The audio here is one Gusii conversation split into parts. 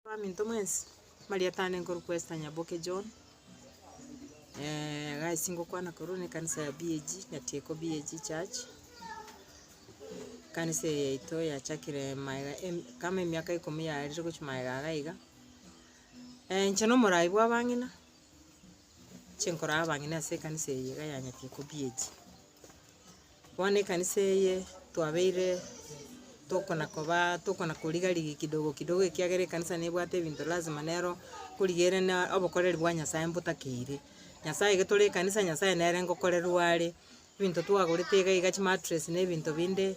Baminto mwensi, Mariata aane nkorokwa Esther Nyaboke John, egasi ngokwana korwa na ekanisa ya BAG, Nyatieko BAG Church, ekanisa eye yaito yachakire magega em- kama emiaka ikomi yarire gochia magega iga iga. inche na omorai bw'abang'ina, inche nkorara abang'ina ase ekanisa eye iga ya Nyatieko BAG. Bono ekanisa eye twabeire tokona kobaa tokona koriga rigia kidogo kidogo ekiagera ekanisa nebwate ebinto lazima nero korigererena obokoreri bwa Nyasaye mbotakeire. Nyasaye ege tore ekanisa Nyasaye nere ngokorerwa are, ebinto twagorete iga iga chimatress na ebinto binde.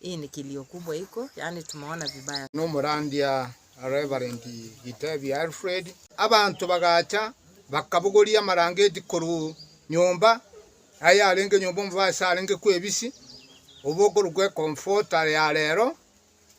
Hii ni kilio kubwa iko yaani tumeona vibaya. Nomorandia Reverend Gitebia Alfred. Abanto bagacha bakabogoria amarangeti korwa nyomba aye arenge nyomba omobe ase arenge kwebisi obo okorokwa ekomfota ya rero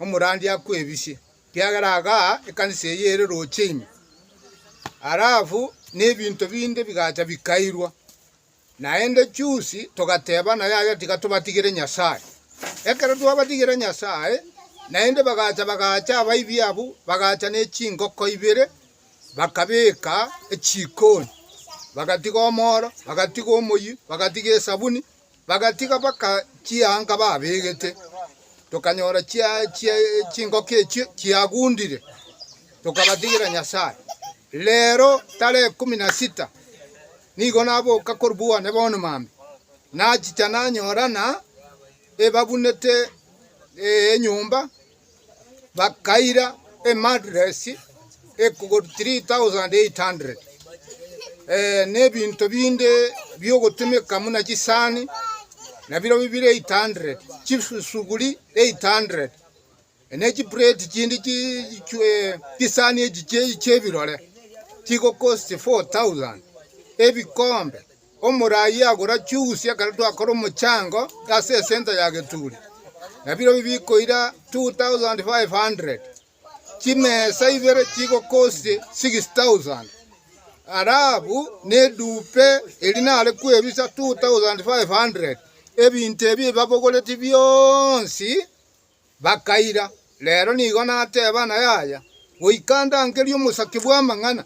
omorandia akwebisi kiagera agaa ekanisa eye ere roche ime. Alafu nebinto binde bigacha bikairwa. Naende chusi togateebana yaya tiga tobatigere Nyasae. Ekero twabatigire Nyasae, naende bagacha bagaacha abaibi abwo, bagacha ne chingoko ibere, bakabeka echikoni, bagatiga omoro, bagatiga omoyie, bagatiga esabuni, bagatiga mpaka chianga babegete. Tokanyora chia- chia- chingoko echio chiagundire, tokabatigera Nyasae. Rero tarehe kumi na sita Nigo naboka korwa bwane bono mambia, nachicha nanyora ng'a ebabunete enyomba, bakaira emattress ekogod 3,800, na ebinto binde biogotumeka buna chisani nabirobio bire 800, chisuguri 800. Ne chibureti chinde chiichwe chisani echicheyi chi'ebirore chigokosia 4,000. Ebikombe, omoraai agora chiusi ekero twakora omochango ase esenta ya Geturi, nabirobio bikoira 2,500. Chimesa ibere chigokosia 6,000. Arabu nedupe eri nare kwebisa 2,500. Ebinto ebi ebabogoretie bionsi Bakaira. Reero nigo nateba na yaya, goika ndangerie omosake bw'amang'ana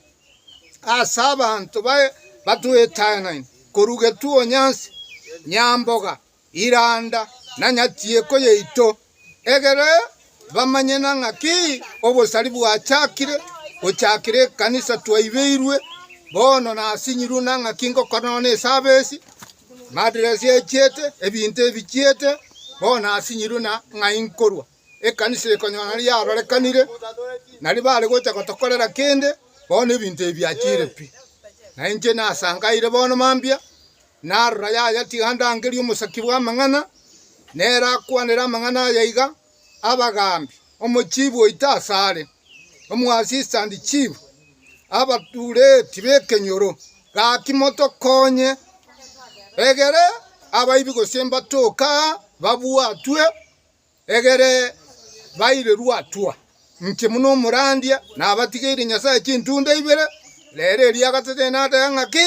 ase abanto baye batwetang'aine, korwa Getuo Nyansi, Nyamboga, Iranda, na Nyatieko yaito, egere bamanye na ng'aki obosari bwachakire gochakire ekanisa twaibeirwe bono nasinyirwe, na ng'aki ngokonona ase abesi, Madiresi echiete, ebinto ebichiete, bono asinyirwe na ng'ai nkorwa. Ekanisa ekonyora nari yarorekanire, nari bare gocha gotokorera kende, bono ebinto ebi biachire pi. Na inche nasangaire bono mambia, narora yaya tiga ndangerie omosaki bw'amang'ana, nere akwanere amang'ana aya iga, abagaambi, omochibi oito asare, omoassistant chief, abatureti b'ekenyoro, gaki motokonye, egere abaibi gose mbatoke aa babwatwe, egere bairerwe hatua. Inche buna omorandia nabatigeire Nyasae chintunda ibere, rero eria gatatene nateba ng'a ki.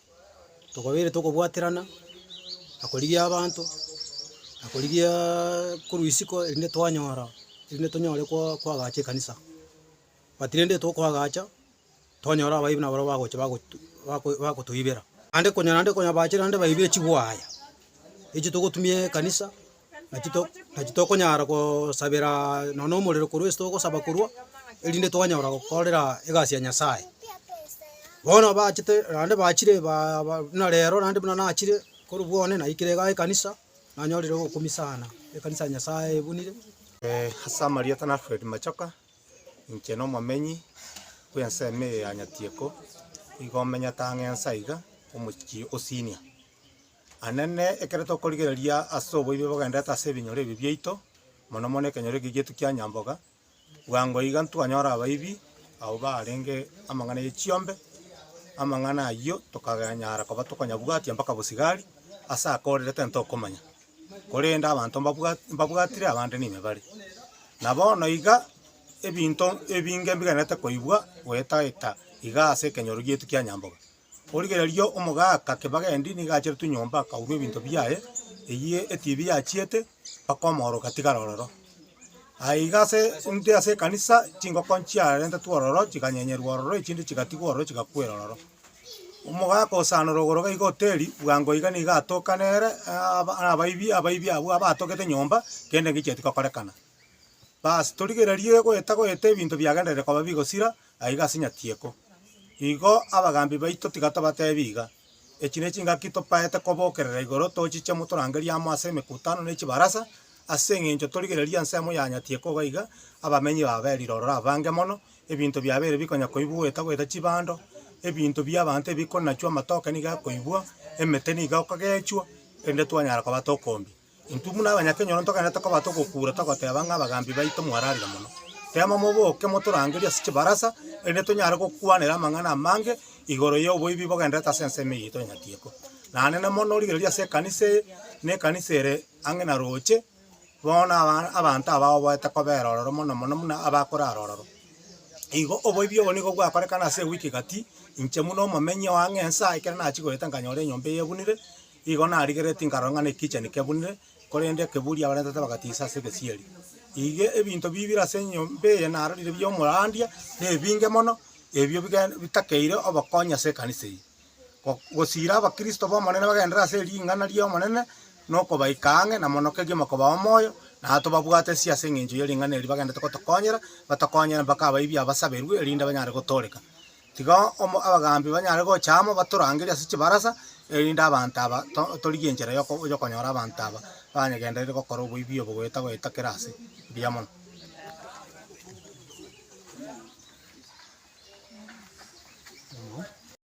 tokobeire tokobwaterana, na korigia abanto, na korigiaaa korwa isiko erinde twanyora, erinde tonyore koo koagacha ekanisa. But rende tokoagacha, twanyora abaibe nabarabwo bagocha bagotu bako bakotoibera. Naende konya naende konya bache naende baibe chigwaya, echi togotumia ekanisa. Naki to, naki tokonyara gosabera nonya omorero korwa ase togosaba korwa, erinde twanyara gokorera egasi ya Nyasaye. Bono abachete naende bachire ba- ba buna rero naende buna nachire, korwa bwane naikire iga ekanisa, nanyorire ogokumia sana ekanisa ya Nyasaye ebunire. Ase amarieta na Alfred Machoka, inche na omomenyi bw'ensemo eye ya Nyatieko, igo menyete ang'e nsa iga, omochie o senior. Anene, ekero tokorigereria ase oboibe bogenderete ase ebinyoro ebi biaito, mono mono ekenyoro eke giaito kia Nyamboga, bwango iga ntwanyora abaibi abwo barenge amang'ana ye chiombe, amang'ana ayio tokaganyara koba tokonyabwatia mpaka bosigari, ase aka ore rete ntokomanya, korende abanto mbabwa mbabwatire abande nime bare. Na bono iga ebinto ebinge mbigenderete koibwa goeta eta iga ase ekenyoro giaito kia Nyamboga. Origererio omogaaka kebagendi nigo acherete nyomba akaurwa ebinto biaye, eyio etibi yachiete mpaka omooroka atigare ororo. Aye iga ase intwe ase ekanisa chingoko nchiarentetwe ororo chiganyenyerwa ororo echinde chigatigwa ororo chigakwera ororo. Omogaaka osaanore ogoro gaiga hoteli bwango iga nigo atoka nere aaba abaibi abaibi abwo abatogete nyomba kende ngichieti gokorekana. Baas torigererie goeta goeta ebinto biagenderire koba bigosira aiga ase nyatieko. Igo abagaambi baito tiga tobateebie iga, Echi ne chingaki topaete kobokerera igoro tochiche motorangerie amo ase emekutano ne chibarasa, ase engencho torigererie ensemo ya nyatieko iga iga abamenyi ba Beriri ororo abange mono, ebinto biabeire bikonya koibwa goeta goeta chibando, ebinto bi'abanto ebikonachwa, amatoke nigo akoibwa, emete nigo ekogechwa, rende twanyara koba tokombia. Intwe buna abanyakenyoro ntogwenerete koba togokuura togoteba ng'a abagambi baito mwararire mono. Teema moboke motorangerie ase chibarasa, erinde tonyare gokwanera amang'ana amange igoro y'oboibi bogendererete ase ensemo eye yaito ya Nyatieko. Nanene mono rigereria ase ekanisa eye, na ekanisa ere ang'e na roche, bono na abanto aba oboete kobera ororo mono mono buna abakorara ororo. Igo oboibi obo nigo bwakorekana ase ewiki gati, inche buna omomenyi o ang'e ensa ekero nachia goeta nkanyora enyomba eye ebunire, Igo narigeretie nkarora ng'a nekicha nikebunire, korende ekeburi abarentete bagatiisa ase egesieri. Iga ebinto bibire ase enyomba eye narorire bi'omorandia nebinge mono, ebio bigende bitakeire obokonyi ase ekanisa eye. Go gosiira abakristo b'Omonene bagenderere ase ring'ana ri'Omonene, na okobaika ang'e, na mono kegiya mokobao moyo, na tobabwate isio ase eng'encho ye ring'ana eri bagenderete gotokonyera, batokonyere mpaka abaibia basaberwe, erinde banyare gotooreka. Tiga amo abagaambi banyare gocha amo batorangerie ase chibarasa, erinde abanto aba torigie enchera y'okonyora abanto aba banyegenderete gokora oboibi obo goeta goeta kera aase. Mbuya mono.